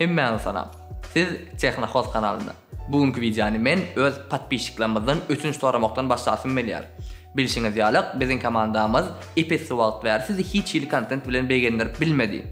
Hemmäňiz salam. Siz Tehnohoz kanalynda. Bu günki wideony men öz podpisçiklerimizden ötünç soramakdan başlasym gelýär. Bilşiňiz ýalyk biziň komandamyz ep-esli wagt bäri sizi hiç hili kontent bilen begendirip bilmedi.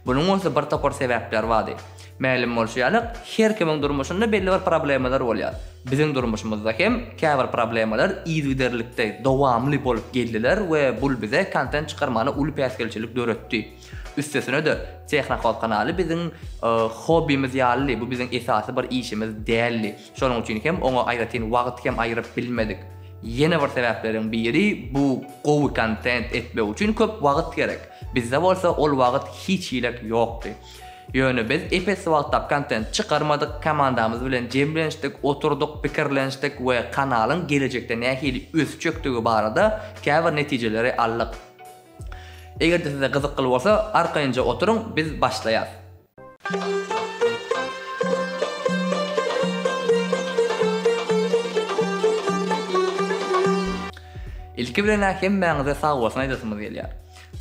Bunuň bolsa bir topar sebäpleri bardy. Mälim bolşy ýalyk her kimiň durmuşynda belli bir problemalar bolýar. Biziň durmuşymyzda hem käbir problemalar yzygiderlikde, dowamly bolup geldiler we bul bize kontent çykarmana uly päsgelçilik döretdi. Üstesine-de, Tehnokol kanaly biziň hobbimiz ýalydy, bu biziň esasy bir işimiz däldi. Şonuň üçin hem oňa aýratyn wagt hem aýyryp bilmedik. Ýene bir sebäpleriň biri, bu gowy kontent etmek üçin köp wagt gerek. Bizde bolsa ol wagt hiç hilek ýokdy. Ýöne biz ep-esli wagtlap kontent çykarmadyk, komandamyz bilen jemlenişdik, oturdyk, pikirlenişdik we kanalyň gelejekde nähili ösjekdigi barada käbir netijeleri aldyk. Eger-de size gyzykly bolsa, arkaýynja oturyň, biz başlaýas. Ilki bilen-ä hemmäňize sag bolsun aýdasymyz gelýär.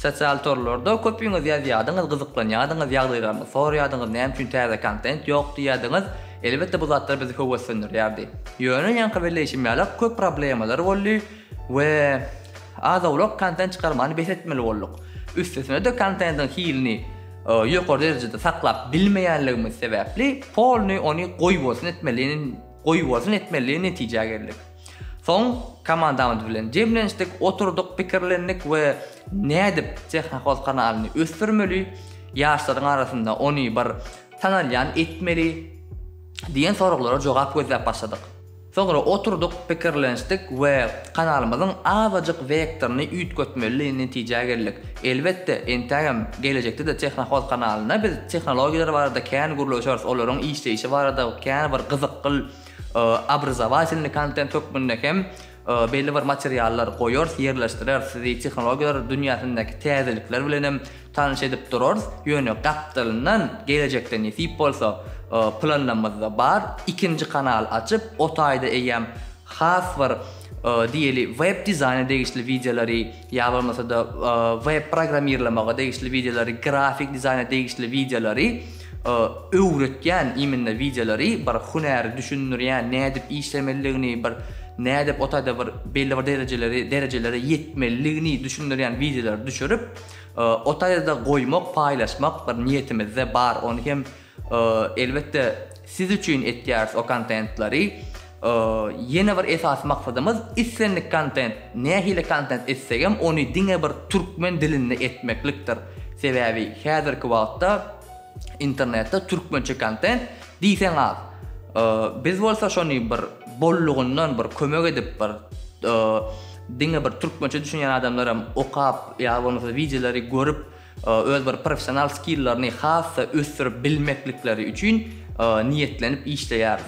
Sosial torlarda köpüňiz ýazýadyňyz, gyzyklanýadyňyz, ýagdaýlaryňyzy soraýadyňyz, näme üçin täze kontent ýok diýýädiňiz. Elbetde bu zatlar bizi höweslendirýärdi. Ýöne ýaňky belleýşim ýaly köp problemalary boldy we Az-owlak kontent çykarmany bes etmeli bolduk. Üstesine-de kontentiň hilini ýokary derejede saklap bilmeýänligimiz sebäpli polny ony goýbolsun etmelini goýbolsun etmeli netijä geldik. Soň komandamyz bilen jemlenişdik, oturdyk, pikirlendik we nädip Tehnohoz kanalyny ösdürmeli, ýaşlaryň arasynda ony bir tanalýan etmeli diýen soraglara jogap gözläp başladyk. Soňra oturdyk, pikirlenişdik we kanalymyzyň azajyk wektoryny üýtgetmelidigi netijä geldik. Elbetde, entägem gelejekde-de Tehnohoz kanalyna biz tehnologiýalar barada kän gürleşeris, olaryň işleýşi barada kän bir gyzykgyl obrazowatelnyý kontent hökmünde hem belli bir materiallar goýarys, ýerleşdireris. Sizi tehnologiýalar dünýäsindäki täzelikler bilenem Tanyş edip durarys, ýöne gapdalyndan gelejekde nesip bolsa, planymyzda bar, ikinji kanal açyp, o taýda eýýäm has bir diýeli web dizaýna degişli wideolary ýa bolmasa-da web programmirlamaga degişli wideolary, grafik dizaýna degişli wideolary, öwretýän imенно wideolary, bir hünäri düşündirýän, nädip işlemelidigini, bir nädip o taýda bir belli bir derejeleri derejelere ýetmelidigini düşündirýän wideolary düşürip, O taýda goýmak, paýlaşmak bir niýetimizde bar, ony hem elbetde siz üçin etýäris o kontentlary. Ýene bir esasy maksadymyz islendik kontent, nähili kontent etsegem ony diňe bir türkmen dilinde etmeklikdir. Sebäbi häzirki wagtda Internetde türkmençe kontent diýseň az. Biz bolsa şony bir bollugyndan bir kömek edip bir diňe bir türkmençe düşünýän adamlaram okap ýa bolmasa wideolary görüp öz bir professional skillerni has-da ösdürip bilmeklikleri üçin niýetlenip işleýäris.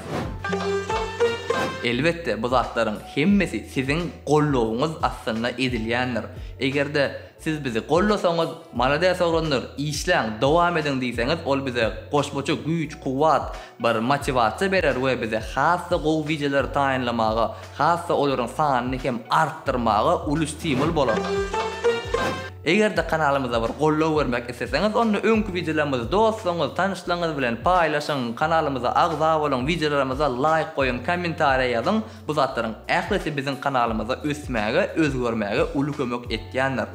Elbetde bu zatlaryň hemmesi siziň goldawyňyz astynda edilýändir. Eger-de Siz bizi gollasaňyz malades oglanlar işläň dowam ediň diýseňiz ol bize goşmaça güýç kuwwat bir motiwasiýa berer we bize has-da gowy wideolar taýynlamaga has-da olaryň sanyny hem artdyrmaga uly stimul bolar. Eger-de kanalymyza bir gollow bermek isleseňiz onda öňki wideolarymyzy dostlaryňyz tanyşlaryňyz bilen paýlaşyň kanalymyza agza boluň wideolarymyza laýk goýuň kommentariýa ýazyň Bu zatlaryň ählisi biziň kanalymyza ösmäge, özgermäge uly kömek etýändir.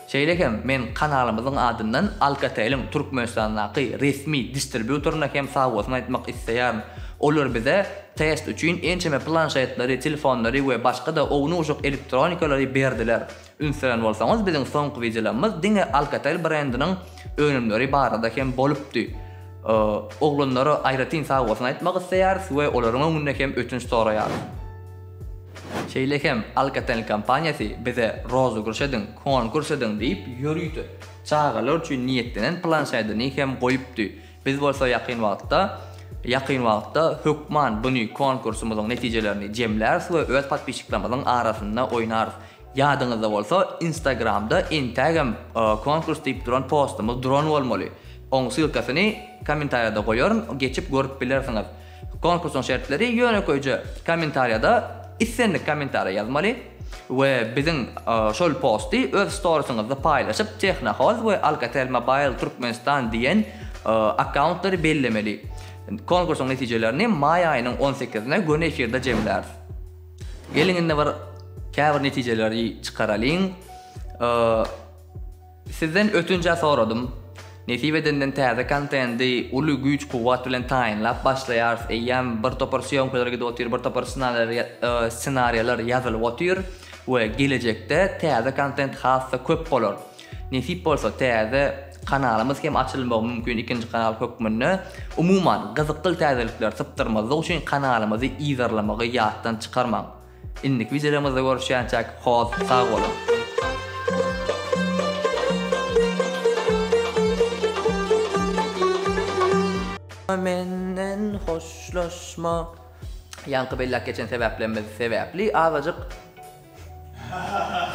Şeýle hem men kanalymyzyň adyndan Alcatel-iň Türkmenistandaky resmi distribýutoryna hem sag bolsun aýtmak isleýärin. Olar bize test üçin ençeme planşetleri, telefonlary we başga-da ownujak elektronikalary berdiler. Üns beren bolsaňyz biziň soňky wideolarymyz diňe Alcatel brendiniň önümleri barada hem bolupdy. Oglanlara aýratyn sagbolsun aýtmak isleýäris we olaryň öňünde hem ötünç soraýarys. Şeýle hem Alcatel kompaniýasy bize rozygryş ediň, konkurs ediň diýip ýörite çagalar üçin niýetlenen planşedini hem goýupdy. Biz bolsa ýakyn wagtda ýakyn wagtda hökman buny konkursymyzyň netijelerini jemläris we öz podpisçiklerimiziň arasynda oýnarys. Ýadyňyzda bolsa instagramda entägem konkurs diýip duran postumyz duran bolmaly. Oň ssylkasyny kommentariýada goýaryn geçip görüp bilersiňiz. Konkursyň şertleri ýönekeýje kommentariýada islendik kommentariýa ýazmaly we biziň şol posty öz storisyňyzda paýlaşyp Tehnohoz we Alcatel Mobile Türkmenistan diýen akkauntlary bellemeli. Konkursyň netijelerini maý aýynyň on sekizine göni efirde jemläris. Geliň indi bir käbir netijeleri çykaralyň. Sizden ötünç-ä soradym. Nesip edenden täze kontendi uly güýç-kuwwat bilen taýynlap başlaýarys. Eýýäm bir topar sýomkalar gidip otyr, bir topar ssenariýalar ýazylyp otyr we gelejekde täze kontent has-da köp bolar. Nesip bolsa täze kanalymyz hem açylmagy mümkin ikinji kanal hökmünde. Umuman gyzykly täzelikleri sypdyrmazlyk üçin kanalymyzy yzarlamagy ýatdan çykarmaň. Indiki wideolarymyzda görüşýänçäk hoz sag boluň. Menden hoşlaşma. Ýaňky belläp geçen sebäplerimiz sebäpli azajyk.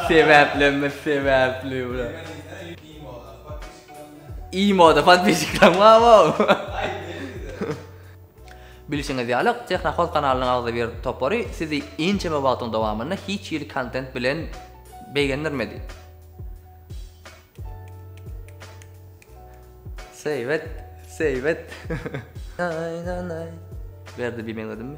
Sebäplerimiz sebäpli Imoda podpisçikler mama. Bilşiňiz ýaly, Tehnohoz kanalynyň agzybir topary sizi ençeme wagtyň dowamynda hiç hili kontent bilen begendirmedi. Seýbet, seýbet. Berdi bimeň ödümmi?